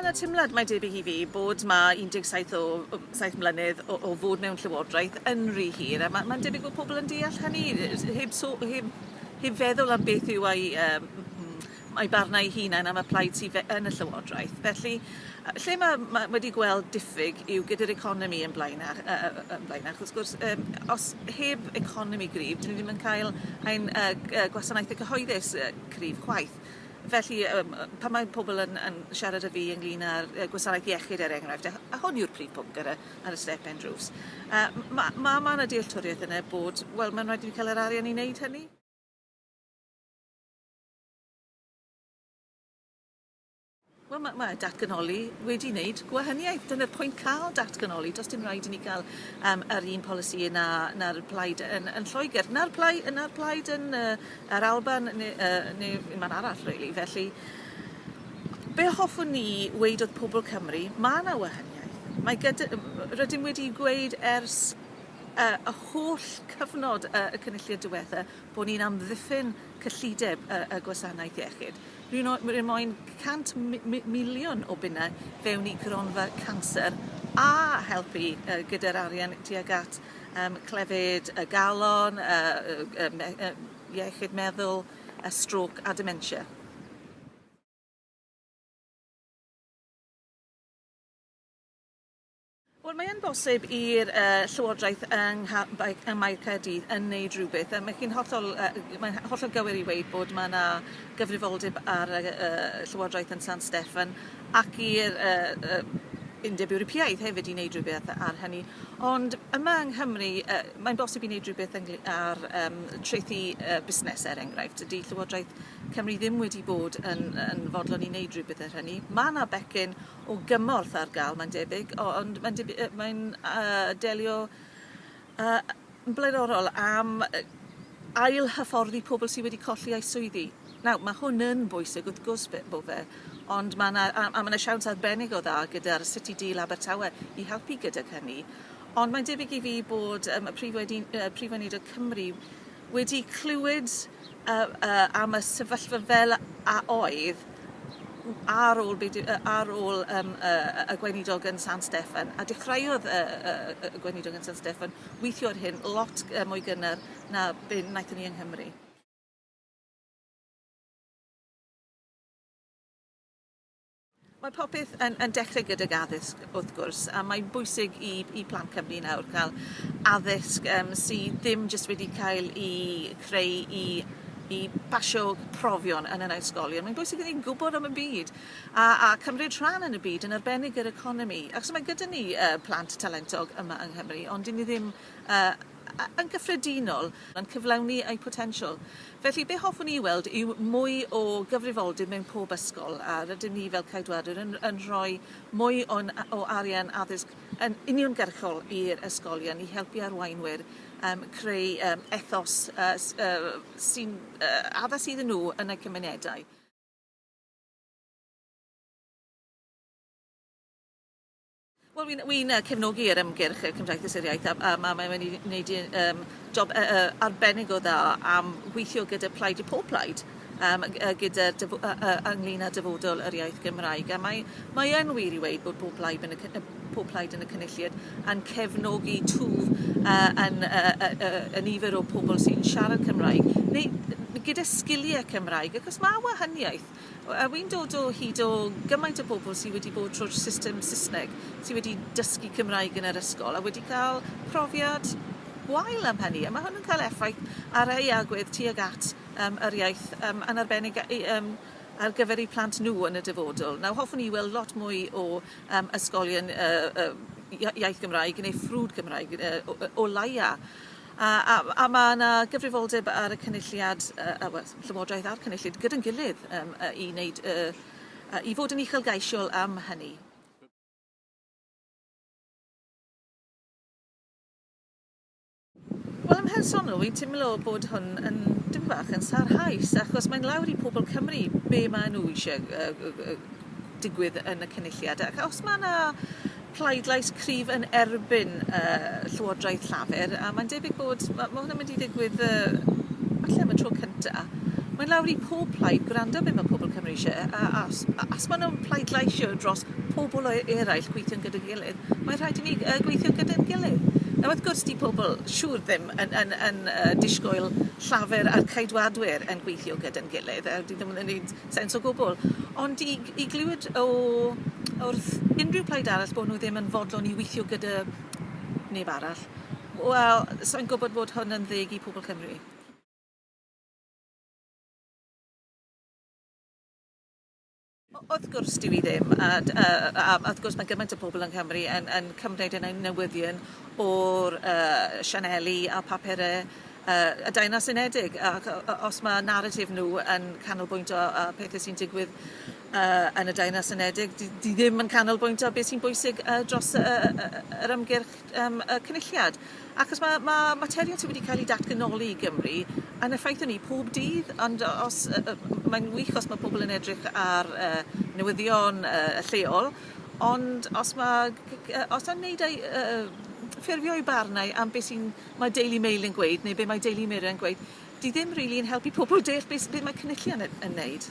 yna teimlad mae debyg i fi bod mae 17 o, o 7 mlynedd o, o fod mewn llywodraeth yn rhy hir a mae'n ma debyg bod pobl yn deall hynny heb, so, heb, heb feddwl am beth yw ei um, a'i barn a'i hunain am y plaid sydd fe- yn y Llywodraeth. Felly, yy, lle mae ma' wedi gweld diffyg yw gyda'r economi yn blaenach, yy, yy, yn blaenach. Wrth gwrs, um, os heb economi gryf, dyn ni ddim yn cael ein uh, gwasanaethau cyhoeddus uh, cryf chwaith. Felly, um, pan mae pobl yn, yn siarad â fi ynglyn â'r uh, gwasanaeth iechyd, er enghraifft, a, a hwn yw'r prif pwnc ar y, ar y step end roofs, uh, mae ma, ma yna dealltwriaeth yna bod, wel, mae'n rhaid i ni cael yr arian i wneud hynny. Wel ma' ma' datganoli wedi wneud gwahaniaeth. Dyna'r pwynt ca'l datganoli do's dim raid i ni ga'l yym yr un polisi na na'r plaid yn yn Lloeger na'r plai- yy na'r plaid yn yy yr Alban ne' yy ne' un man arall rili felly be' hoffwn ni weud wrth pobol Cymru ma' 'na wahaniaeth mae gyda yym r- rydym wedi gweud ers yy y holl cyfnod yy y Cynulliad diwetha bo' ni'n amddiffyn cyllideb y y gwasanaeth iechyd. Rwy' no- rwy' moyn 100 mi- mi- miliwn o bunne fewn i gronfa canser a helpu yy gyda'r arian tuag at yym clefyd y galon y y y me- y iechyd meddwl y strôc a dementia. Wel mae yn bosib i'r yy Llywodraeth yng ngha- bai- ym Mae Caerdydd yn wneud rhywbeth a mae chi'n hollol yy mae'n hollol gywir i weud bod mae 'na gyfrifoldeb ar y yy Llywodraeth yn San Steffan ac i'r yy yy Undeb Ewropeaidd hefyd i wneud rhywbeth ar hynny. Ond yma yng Nghymru yy mae'n bosib i wneud rhywbeth yngly- ar yym trethi yy busnes er enghraifft. Dydy Llywodraeth Cymru ddim wedi bod yn yn fodlon i wneud rhywbeth ar hynny. Mae 'na becyn o gymorth ar ga'l mae'n debyg o- ond mae'n dib- yy mae'n yy delio yy yn blaenorol am yy ail hyfforddi pobl sy wedi colli eu swyddi. Nawr ma' hwn yn bwysig wrth gwrs be- bo fe ond ma' 'na a a ma' 'na siawns arbennig o dda gyda'r City Deal Abertawe i helpu gydag hynny ond mae'n debyg i fi bod yym y prif wedi- yy Prif Weinidog Cymru wedi clywed yy yy am y sefyllfa fel a oedd w- ar ôl be' 'di yy ar ôl yym yy yy y gweinidog yn San Steffan a dechreuodd yy yy yy y gweinidog yn San Steffan weithio ar hyn lot yy mwy gynnar na be' naethon ni yng Nghymru. Mae popeth yn yn dechre gydag addysg wrth gwrs a mae'n bwysig i i plant Cymru nawr ca'l addysg yym sy ddim jyst wedi cael 'i creu i i basio profion yn yn ysgolion. Mae'n bwysig i ni gwbod am y byd a a cymryd rhan yn y byd yn arbennig yr economi achos mae gyda ni yy plant talentog yma yng Nghymru ond 'dyn ni ddim yy yn gyffredinol yn cyflawni eu potensial. Felly, be hoffwn i weld yw mwy o gyfrifoldeb mewn pob ysgol, a rydym ni fel Ceidwadwyr yn, yn rhoi mwy o'n, o arian addysg yn uniongyrchol i'r ysgolion i helpu arweinwyr um, creu um, ethos uh, uh, sy'n uh, addas iddyn nhw yn eu cymunedau. Wel wi'n wi'n yy cefnogi yr ymgyrch y Cymdeithas yr Iaith a a ma' mae wedi wneud i yym job yy yy arbennig o dda am weithio gyda Plaid y Pob Plaid yym ag- yy gyda dyf- yy yy ynglŷn â dyfodol yr iaith Gymraeg a mae mae yn wir i weud bod pob plaid yn y cy- yy pob plaid yn y cynulliad yn cefnogi twf yy yn yy yy yy y nifer o pobl sy'n siarad Cymraeg neu n- gyda sgilie Cymraeg achos ma' wahaniaeth A wi'n dod o hyd o gymaint o bobl sy wedi bod trwy'r system Saesneg, sy wedi dysgu Cymraeg yn yr ysgol a wedi cael profiad gwael am hynny, a mae hwn yn cael effaith ar eu agwedd tuag at um, yr iaith, um, yn arbennig um, ar gyfer eu plant nhw yn y dyfodol. Nawr, hoffwn i weld lot mwy o um, ysgolion uh, uh, iaith Gymraeg neu ffrwd Cymraeg uh, o, o laia. A, a, a mae yna gyfrifoldeb ar y Cynulliad, uh, uh, well, Llywodraeth a'r Cynulliad gyda'n gilydd um, uh, i, wneud, uh, uh, i fod yn uchelgeisiol am hynny. Wel, yn mhersonol, fi'n teimlo bod hwn yn dim bach yn sarhaus, achos mae'n lawr i pobl Cymru be maen nhw eisiau uh, uh, digwydd yn y cynulliad. Ac os mae yna pleidlais cryf yn erbyn y Llywodraeth Llafur, a mae'n debyg bod, mae hwn yn mynd i ddigwydd uh, falle am y tro cynta. Mae'n lawr i pob plaid gwrando beth mae pobl Cymru eisiau, a as, as maen nhw'n pleidlaisio dros pobl o eraill gweithio'n gyda'n gilydd, mae'n rhaid i ni uh, gweithio gyda'n gilydd. Nawr, wrth gwrs, di pobl siŵr ddim yn, yn, yn uh, disgwyl llafur a'r caedwadwyr yn gweithio gyda'n gilydd, a di ddim yn gwneud sens o gwbwl. Ond i g- i glywed o o wrth unrhyw plaid arall bo' nw ddim yn fodlon i weithio gyda neb arall wel sai'n gwbod bod hwn yn ddeg i pobol Cymru. O- wrth gwrs dyw 'i ddim a d- yy a a wrth gwrs ma' gymaint o pobol yng Nghymru yn yn cymryd yn ein newyddion o'r yy sianeli a papure yy y Deyrnas Unedig ac o- o- os ma' naratif nw yn canolbwyntio ar pethe sy'n digwydd yy yn y Deyrnas Unedig 'di 'di ddim yn canolbwyntio be' sy'n bwysig yy dros y y y y y yr ymgyrch yym y Cynulliad achos ma' ma' materion sy wedi ca'l 'u datganoli i Gymru yn effeithio ni pob dydd ond o- os yy yy m- mae'n wych os ma' pobol yn edrych ar yy newyddion yy y lleol ond os ma' g- g- yy os 'na neud â'i yy ffurfio'i barn ai am be' sy'n mae Daily Mail yn gweud neu be mae Daily Mirror yn gweud, 'di ddim rili yn helpu pobl deall be s- be mae cynullion yn yn neud.